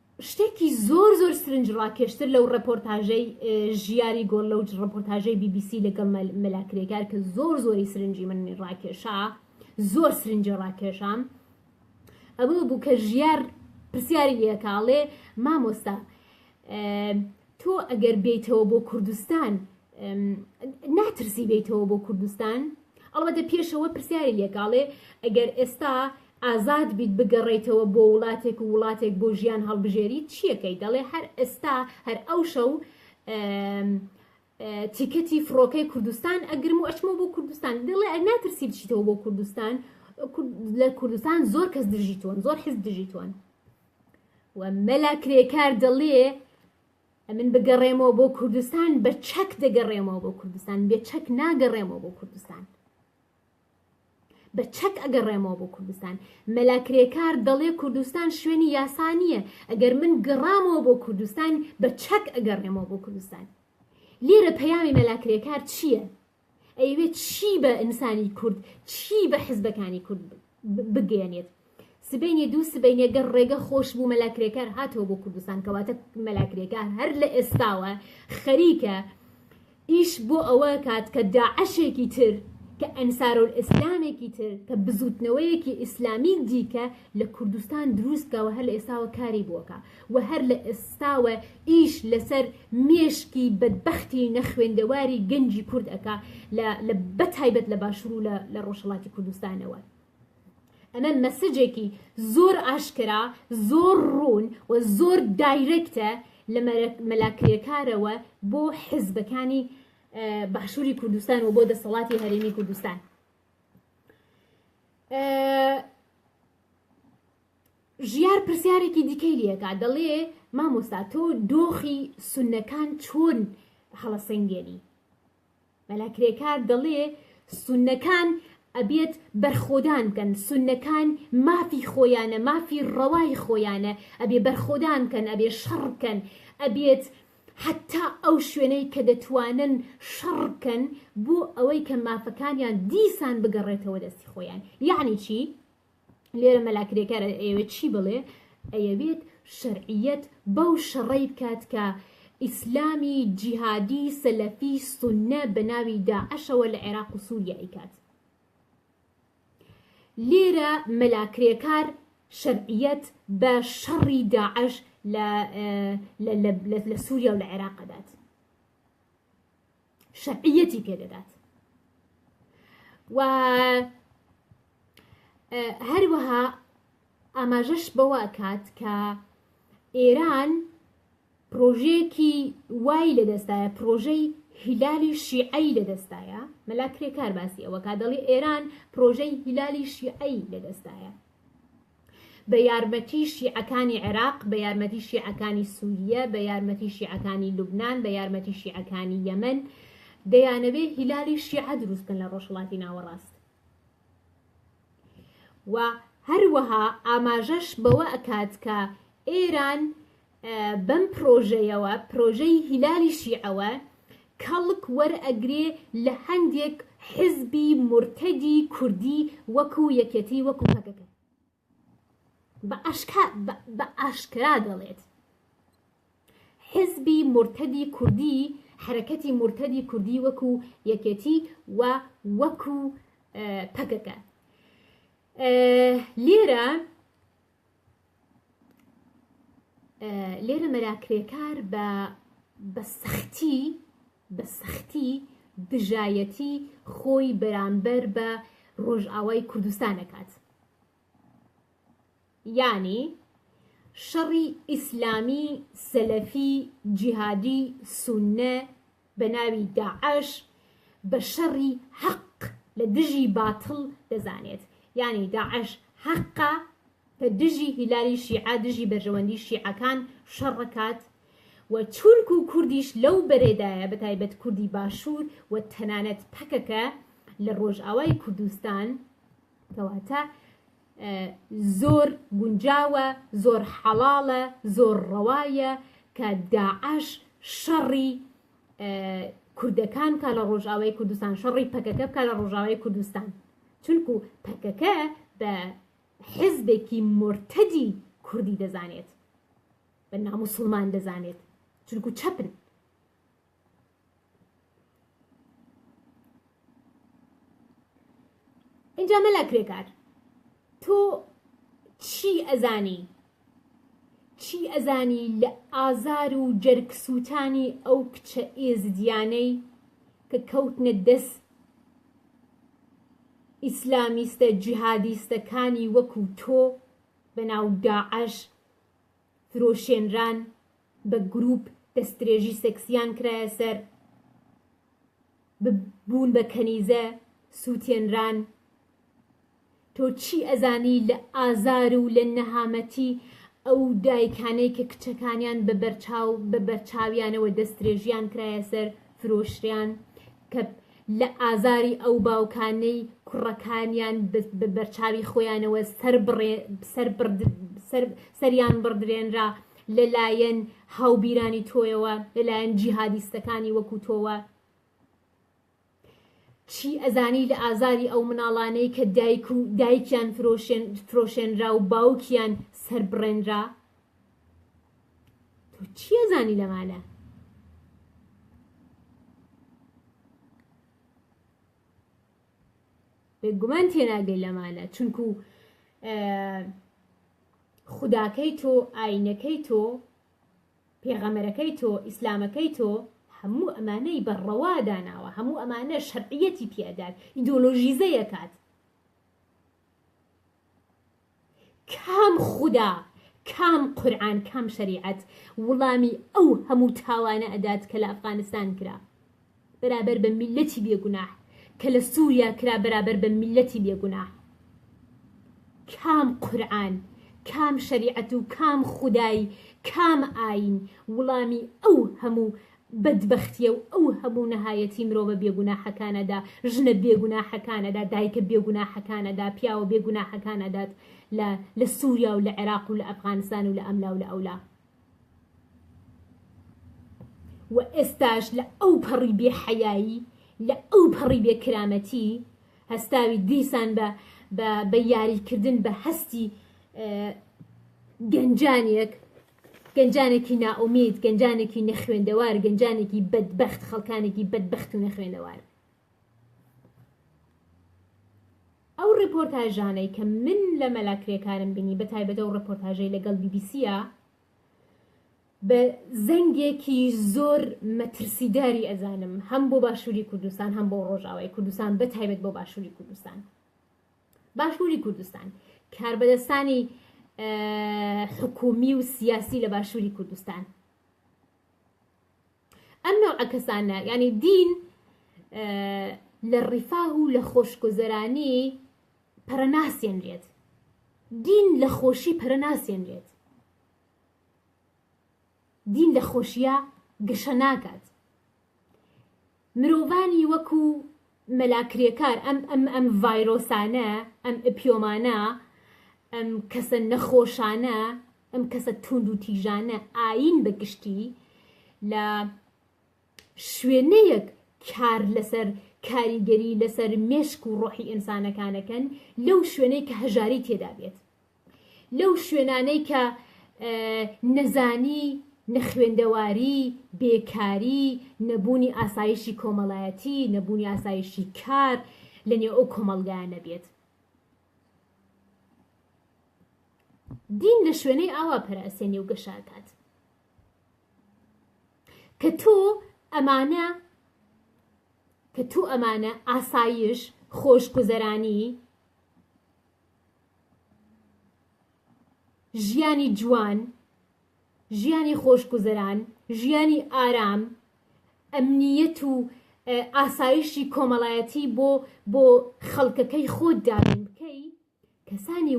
A: شتێکی زۆر زۆر سرنج ڕاکێشتر لەو ڕپۆرتاژەی ژیاری گۆڵ لەو ڕپۆرتاژەی بی بی سی لەگەڵ مەلا کرێکار کە زۆر زۆری سرنجی من ڕاکێشا زۆر سرنجی ڕاکێشام ئەوە بوو کە ژیار پرسیاری لەکاڵێ مامۆستا تۆ ئەگەر بێیتەوە بۆ کوردستان ناترسی بێیتەوە بۆ کوردستان ئەڵبەتە پێشەوە پرسیاری لێکاڵێ ئەگەر ئێستا ئازاد بیت بگەڕیتەوە بۆ وڵاتێک و وڵاتێک بۆ ژیان هەڵبژێری چیەکەی دەڵێ هەر ئێستا هەر ئەو شەو تیکەتی فڕۆکەی کوردستان ئەگرم و ئەچمە بۆ کوردستان دڵێ ئە ناترسی بچیتەوە بۆ کوردستان لە کوردستان زۆر کەس دژیتوون زۆر حز دژیتوون و مەلا کرێکار دەڵێ ئەمن بگەڕێمەوە بۆ کوردستان بە چەک دەگەڕێمەوە بۆ کوردستان بێ چەک ناگەڕێمەوە بۆ کوردستان بە چەک ئەگەڕێمەوە بۆ کوردستان مەلا کرێکار دەڵێ کوردستان شوێنی یاسا نییە ئەگەر من گەڕامەوە بۆ کوردستان بە چەک ئەگەڕێمەوە بۆ کوردستان لێرە پەیامی مەلا کرێکار چییە؟ ئەیەوێ چی بە ئینسانی کورد چی بە حزبەکانی کورد بگەیەنێت سبینێ دوو سبینێ گەر ڕێگە خۆش بوو مەلا کرێکار هاتەوە بۆ کوردستان کەواتە مەلا کرێکار هەر لە ئێستاوە خەریکە ئیش بۆ ئەوە کات کە داعشێکی تر کە ئەنسارۆل ئیسلامێکی تر کە بزوتنەوەیەکی ئیسلامی دیکە لە کوردستان دروستکەوە هەر لە ئێستاوە کاری بووەکە و هەر لە ئێستاوە ئیش لەسەر مێشکی بەدبەختی نەخوێندەواری گەنجی کورد ئەکا لە بەتایبەت لە باشوور و لە ڕۆژهەڵاتی کوردستانەوە ئەمە مەسجێکی زۆر ئاشکرا زۆر ڕوون و زۆر دایرەکتە لە مەلاکرێکارەوە بۆ حزبەکانی باشووری کوردستان و بۆ دەسەڵاتی هەرێمی کوردستان ژیار پرسیارێکی دیکەی لێکا دەڵێ مامۆستا تۆ دۆخی سونەکان چۆن هەڵەسەنگێنی مەلا کرێکار دەڵێ سونەکان ئەبێت بەرخۆدان بکەن سونەکان مافی خۆیانە مافی ڕەوای خۆیانە ئەبێ بەرخۆدان بکەن ئەبێ شەڕ بکەن ئەبێت حتا ئەو شوێنەی کە دەتوانن شەڕ بکەن بۆ ئەوەی کە مافەکانیان دیسان بگەڕێتەوە دەستی خۆیان یعنی چی؟ لێرە مەلا کرێکار ئەیەوێت چی بڵێ ئەیەوێت شەرعیەت بەو شەڕەی بکات کە ئیسلامی جیهادی سەلەفی سنە بە ناوی داعشەوە لە عێراق و سووریا ئیکات لێرە مەلاکرێکار شەرعیەت بە شەڕی داعش لە سووریا و لە عێراق دەدات شەرعیەتی پێدەدات و هەروەها ئاماژەش بەوە کات کە ئێران پرۆژەیەکی وای لەدەستایە پرۆژەی هیلالی شیعی لەدەستایە مەلا کرێکار باسی ئەوە کا دەڵی ئێران پرۆژەی هیلالی شیعی لەدەستایە بە یارمەتی شیعەکانی عێراق، بە یارمەتی شیعەکانی سوورییە، بە یارمەتی شیعەکانی لوبنان، بە یارمەتی شیعەکانی یەمەن، دەیانەوێ هیلالی شیعە دروست بکەن لە ڕۆژهەڵاتی ناوەڕاست. و هەروەها ئاماژەش بەوە ئەکات کە ئێران بەم پرۆژەیەوە، پرۆژەی هیلالی شیعەوە، کەڵک وەرئەگرێ لە هەندێک حزبی مورتەدی کوردی وەکو یەکێتی وەکو پەکەکە. بە ئاشکرا دەڵێت حزبی مورتەدی کوردی، حەرەکەتی مورتەدی کوردی وەکو یەکێتی و وەکو پەکەکە. لێرە لێرە مەلا کرێکار بە بە سەختی بە سەختی دژایەتی خۆی بەرامبەر بە ڕۆژئاوای کوردستان دەکات یانی شەڕی ئیسلامی سەلەفی جیهادی سونە بە ناوی داعش بە شەڕی حەق لە دژی باتڵ دەزانێت یانی داعش حەقە بە دژی هیلالی شیعە دژی بەرژەوەندی شیعەکان شەڕکات و تورک و کوردیش لەو بەرێدایە بە تایبەت کوردی باشوور و تەنانەت پەکەکە لە ڕۆژئاوای کوردستان کەواتە زۆر گونجاوە زۆر حەڵاڵە زۆر ڕەوایە کە داعش شەڕی کوردەکان کا لە ڕۆژاوای کوردستان شەڕی پەکەکە بکە لە ڕۆژاوای کوردستان چونکو پەکەکە بە حزبێکی مرتدی کوردی دەزانێت بە ناموسڵمان دەزانێت چونکو چەپن اینجا مەلا کرێکار تۆ چی ئەزانی چی ئەزانی لە ئازار و جەرگسووتانی ئەو کچە ئێزدیانەی کە کەوتنە دەست ئیسلامیستە جیهادیستەکانی وەکو تۆ بە ناو داعش فرۆشێنران، بە گرووپ دەستدرێژی سێکسییان کرایە سەر، ببوون بە کەنیزە، سووتێنران. تۆ چی ئەزانی لە ئازار و لە نەهامەتی ئەو دایکانەی کە کچەکانیان بە بەرچاو بە بەرچاویانەوە دەستدرێژییان کرایە سەر، فرۆشریان کە لە ئازاری ئەو باوکانەی کوڕەکانیان بە بەرچاوی خۆیانەوە سەریان بڕدرێنرا لە لایەن هاوبیرانی تۆیەوە لە لایەن جیهادیستەکانی وەکو تۆوە چی ئەزانی لە ئازاری ئەو مناڵانەی کە دایک و دایکیان فرۆشێن فرۆشێنرا و باوکیان سەربڕێنرا تۆ چیە زانی لە مالە بێگومان تێناگەی لە مالە چونکو خوداکەی تۆ ئاینەکەی تۆ پێغەمەرەکەی تۆ ئیسلامەکەی تۆ هەموو ئەمانەی بەڕەوا داناوە هەموو ئەمانە شەرعیەتی پیادات ئیدۆلۆژیزەیەکات کام خودا کام قورعان کام شەریعەت وڵامی ئەو هەموو تاوانە ئەدات کە لە ئەفغانستان کرا بەرابەر بە میللەتی بێ گوناح کە لە سوریا کرا بەرابەر بە میللەتی بێ گوناح کام قورعان کام شەریعەت و کام خودای کام ئاین وڵامی ئەو هەموو بەدبەختیە و ئەو هەموو نەهایەتی مرۆڤە بێگوناحەکانەدا، ژنە بێگوناحەکانەدا، دایکە بێگوناحەکانەدا، پیاوە بێگوناحەکانەدات لە لە سوریا و لە عێراق و لە ئەفغانستان و لە ئەملا و لە ئەولا. و ئێستاش لە ئەو پەڕی بێ حەیایی، لە ئەو پەڕی بێ کرامەتی هەستاوی دیسان بە بە بە یاریکردن بە هەستی گەنجانێک، گەنجانێکی نائومید، گەنجانێکی نەخوێندەوار، گەنجانێکی بەدبەخت، خەڵکانێکی بەدبەخت و نەخوێندەوار. ئەو ڕێپۆرتاژانەی کە من لە مەلا کرێکارم بینی بە تایبەت ئەو ڕێپۆرتاژەی لەگەڵ بی بی سیە بە زەنگێکی زۆر مەترسیداری ئەزانم هەم بۆ باشووری کوردستان هەم بۆ ڕۆژاوای کوردستان بە تایبەت بۆ باشووری کوردستان. باشووری کوردستان کاربەدەستانی حکومی و سیاسی لە باشووری کوردستان ئەم نەوعە کەسانە ینی دین لە ڕیفاه و لە خۆشگوزەرانی پەرەناسێنرێت دین لە خۆشی پەرەناسێنرێت دین لە خۆشیە گەشە ناکات مرۆڤانی وەکو مەلا کرێکار ئەم ئەم ئەم ڤایرۆسانە ئەم ئپیۆمانە ئەم کەسە نەخۆشانە ئەم کەسە توند و تیژانە ئاین بە گشتی لە شوێنەیەک کار لەسەر کاریگەری لەسەر مێشک و ڕۆحی ئینسانەکانەکەن لەو شوێنەی کە هەژاری تێدا بێت لەو شوێنانەی کە نەزانی، نەخوێندەواری، بێکاری، نەبوونی ئاسایشی کۆمەڵایەتی، نەبوونی ئاسایشی کار لە نێو ئەو کۆمەڵگایە نەبێت. دین لە شوێنەی ئاوا پەرەسێنی و گەشاکات. کە تۆ ئەمانە کە تۆ ئەمانە ئاسایش خۆشگوزەرانی ژیانی جوان، ژیانی خۆشگوزەران، ژیانی ئارام، ئەمنیەت و ئاسایشی کۆمەڵایەتی بۆ بۆ خەڵکەکەی خۆت دابین بکەی کەسانی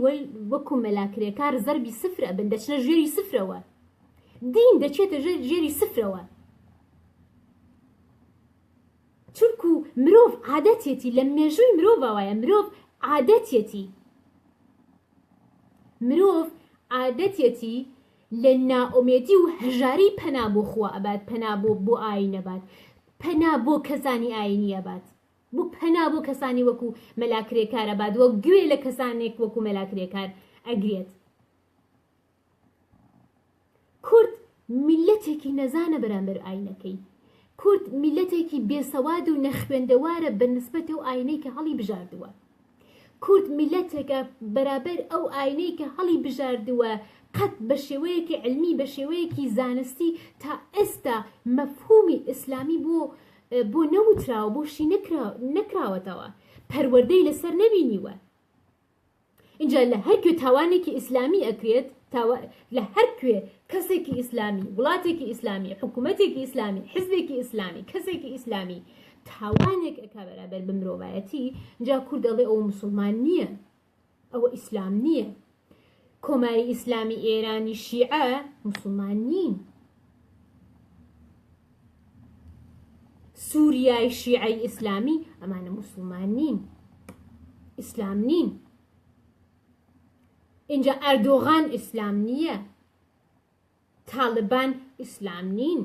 A: وەکو مەلا کرێکار زەربی سفر ئەبن دەچنە ژێری سفرەوە دین دەچێتە ژێری سفرەوە چونکوو مرۆڤ عادەتیەتی لە مێژووی مرۆڤا وایە مرۆڤ عادەتیەتی مرۆڤ عادەتیەتی لە نائومێدی و هەژاری پەنا بۆ خوا ئەبات پەنا بۆ بۆ ئاین ئەبات پەنا بۆ کەسانی ئاینی ئەبات بۆ پەنا بۆ کەسانی وەکو مەلا کرێکار ئەبات وە گوێ لە کەسانێک وەکو مەلا کرێکار ئەگرێت کورد میللەتێکی نەزانە بەرامبەر ئاینەکەی. کورد میللەتێکی بێسەواد و نەخوێندەوارە بە نسبەت ئەو ئاینەی کە هەڵی بژاردووە. کورد میللەتێکە بەرابەر ئەو ئاینەی کە هەڵی بژاردووە قەت بە شێوەیەکی علمی بە شێوەیەکی زانستی تا ئێستا مەفهومی ئیسلامی بۆ بۆ نەوتراوە بۆ شی نەکراوەتەوە پەروەردەی لەسەر نەبینیوە. ئینجا لە هەر کوێ تاوانێکی ئیسلامی ئەکرێت تاوا لە هەر کوێ کەسێکی ئیسلامی وڵاتێکی ئیسلامی حکوومەتێکی ئیسلامی حزبێکی ئیسلامی کەسێکی ئیسلامی تاوانێک ئەک بەرابەر بە مرۆڤایەتی جا کورد دەڵێ ئەو مسلمان نییە ئەوە ئیسلام نییە کۆماری ئیسلامی ئێرانی شیعە مسلمان نین سوریای شیعەی ئیسلامی ئەمانە موسڵمان نین ئیسلام نین اینجا ئەردۆغان ئیسلام نییە تاالبان ئیسلام نین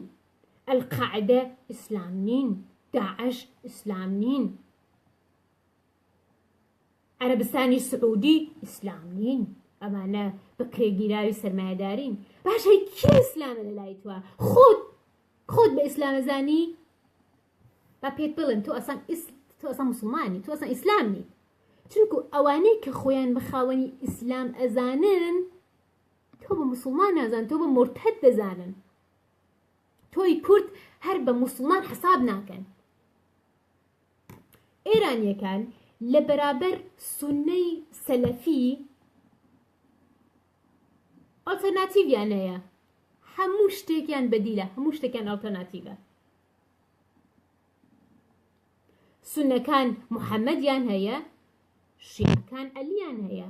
A: ئەلقاعدە ئیسلام نین داعش ئیسلام نین عەرەبستانی سعودی ئیسلام نین ئەمانە بەکرێگیراوی سەرمایەدارین باش هەی کێ ئیسلامە لە لای توە خۆت خۆت بە ئیسلامەزانی با پێت بڵێن تۆ ئەسان تۆ ئەسان مسلمانی تۆ ئەسان ئیسلام نی چونکو ئەوانەی کە خۆیان بە خاوەنی ئیسلام ئەزانن تۆ بە مسلمان نازان تۆ بە مرتد دەزانن تۆی کورد هەر بە مسلمان حساب ناکەن ئێرانیەکان لە بەرابەر سونەی سەلەفی ئۆتەرناتیڤیان هەیە هەموو شتێکیان بەدیلە هەموو شتێکیان ئەڵتەرناتیڤە سونەکان محەممەدیان هەیە شیعەکان ئەلیان هەیە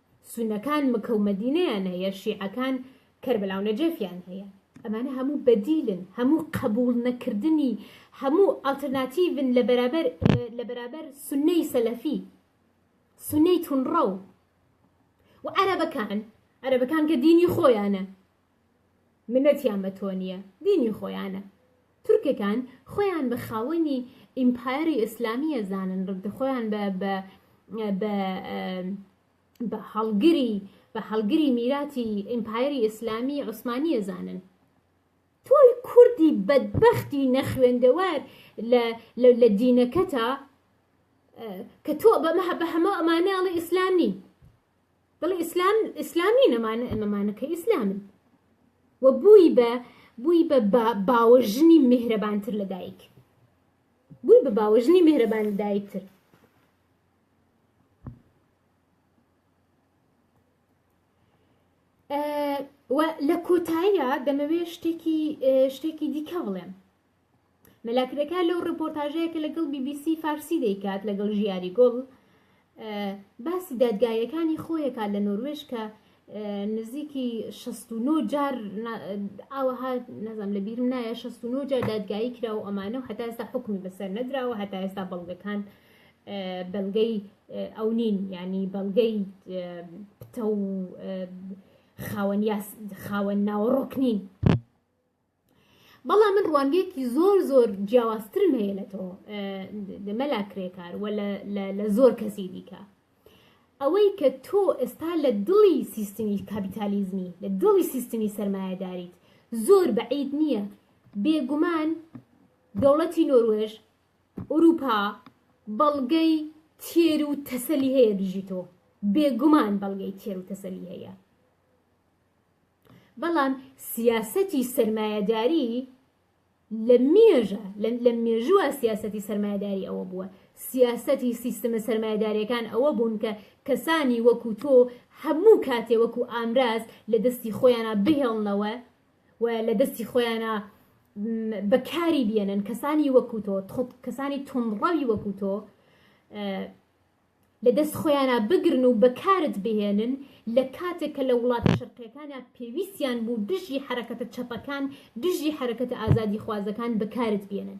A: سونەکان مکە و مەدینەیان هەیە شیعەکان کەربەلا و نەجەفیان هەیە ئەمانە هەموو بەدیلن هەموو قبوڵ نەکردنی هەموو ئەڵتەرناتیڤن لە بەرابەر لە بەرابەر سنەی سەلەفی سنەی تونڕەو و عەرەبەکان عەرەبەکان کە دینی خۆیانە منەتیان بە تۆ نیە دینی خۆیانە تورکەکان خۆیان بە خاوەنی ئیمپایەری ئیسلامی ئەزانن ڕدە خۆیان بە بە بە بە هەڵگری بە هەڵگری میراتی ئیمپایەری ئیسلامی عوسمانی ئەزانن تۆی کوردی بەدبختی نەخوێندەوار لە دینەکەتا کە تۆ بەمە بە هەمە ئەمانەڵی ئیسلام نین بەڵێ ئیسلام ئیسلام نین ئەمانە ئەمەمانە کە ئیسلامن و بووی بە بووی بە باوەژنی میهرەبانتر لە دایک بووی بە باوەژنی میهرەبان لە دایکتر و لە کۆتاییە دەمەوێت شتێکی شتێکی دیکە بڵێم مەلا کرێکار لەو ڕپۆرتاژەیە کە لەگەڵ بی بی سی فارسی دەیکات لەگەڵ ژیاری گوڵ باسی دادگایەکانی خۆیەکات لە نۆروێش کە نزیکی 69 جار ئاوەها نەزم لە بیرم نایە 69 جار دادگایی کرا و ئەمانە و هەتا ئێستا حکومی بەسەر نەدراوە هەتا ئێستا بەڵگەکان بەڵگەی ئەو نین ینی بەڵگەی پتە و خاوەن خاوەن ناوەڕۆک نین بەڵام من ڕوانگەیەکی زۆر زۆر جیاوازترم هەیە لە تۆ مەلا کرێکار و لە زۆر کەسی دیکە ئەوەی کە تۆ ئێستا لە دڵی سیستمی کاپیتالیزمی لە دڵی سیستمی سرمایهداریت زۆر بەعید نییە بێگومان دەوڵەتی نۆروێژ ئوروپا بەڵگەی تێر و تەسەلی هەیە دژی تۆ بێگومان بەڵگەی تێر و تەسەلی هەیە بەڵام سیاسەتی سەرمایەداری لە مێژە لە مێژووە سیاسەتی سەرمایەداری ئەوە بووە سیاسەتی سیستمە سەرمایەدارەکان ئەوە بوون کە کەسانی وەکو تۆ هەموو کاتێ وەکو ئامراز لە دەستی خۆیانە بهێڵنەوە و لە دەستی خۆیانە بەکاری بێنن کەسانی وەکو تۆ کەسانی تونڕەوی وەکو تۆ لە دەست خۆیانا بگرن و بەکارت بهێنن لە کاتێک کە لە وڵاتە شەرقیەکانا پێویستیان بوو دژی حەرەکەتە چەپەکان دژی حەرەکەتە ئازادی خوازەکان بەکارت بێنن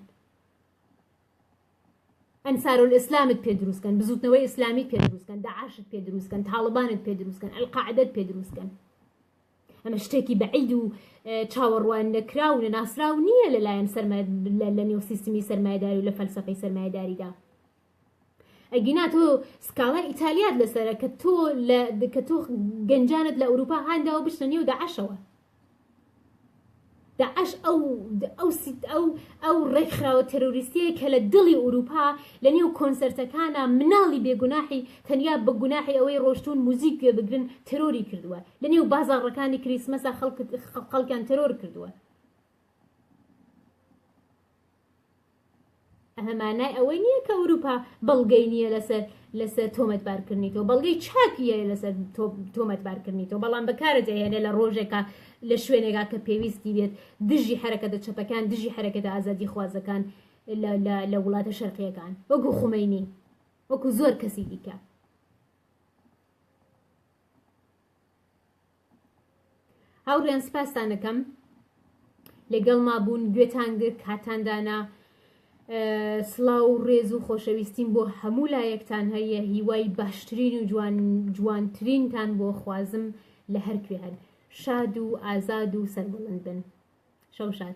A: ئەنسارولئیسلامت پێ دروست کەن بزوتنەوەی ئیسلامیت پێ دروست کەن داعشت پێ دروست کەن تاڵبانت پێ دروست کەن القاعدەت پێ دروست کەن ئەمە شتێکی بەعید و چاوەڕوان نەکراو و ناسراو نییە لەلایەن سەرمە لە نێو سیستمی سەرمایداری و لە فەلسفەی سەرمایداریدا ئەگینا تۆ سکاڵای ئیتالیات لەسەرە کە تۆ کە تۆ گەنجانت لە ئەوروپا هانداوە بچنە نێو داعشەوە داعش ئەو ئەو ئەو ئەو ڕێکخراوە تەرۆریستیە کە لە دڵی ئوروپا لە نێو کۆنسرتەکانە مناڵی بێگوناحی تەنیا بە گوناحی ئەوەی ڕۆشتون موزیک گوێ بگرن تەرۆری کردووە لە نێو بازاڕەکانی کریسمەسا خەڵکیان تەرۆر کردووە ئەمە مانای ئەوەی نییە کە ئەوروپا بەڵگەی نییە لەسەر لەسەر تۆمەتبارکردنی تۆ بەڵگەی چاکیە لەسەر تۆمەتبارکردنی تۆ بەڵام بەکارە دەهێنێ لە ڕۆژێکە لە شوێنێکا کە پێویستی بێت دژی حرەکە دە چەپەکان دژی حرەکەدا ئازادی خوازەکان لە وڵاتە شەرقیەکان وەکو خومینی وەکو زۆر کەسی دیکە هاوڕێیان سپاستان دەکەم لەگەڵ ما بوون گوێتان گرت کاتان دانا سڵاو و ڕێز و خۆشەویستیم بۆ هەموو لایەکتان هەیە هیوای باشترین و جوان جوانترینتان بۆ خوازم لە هەرکوێ هەن شاد و ئازاد و سەربڵند بن شەو شاد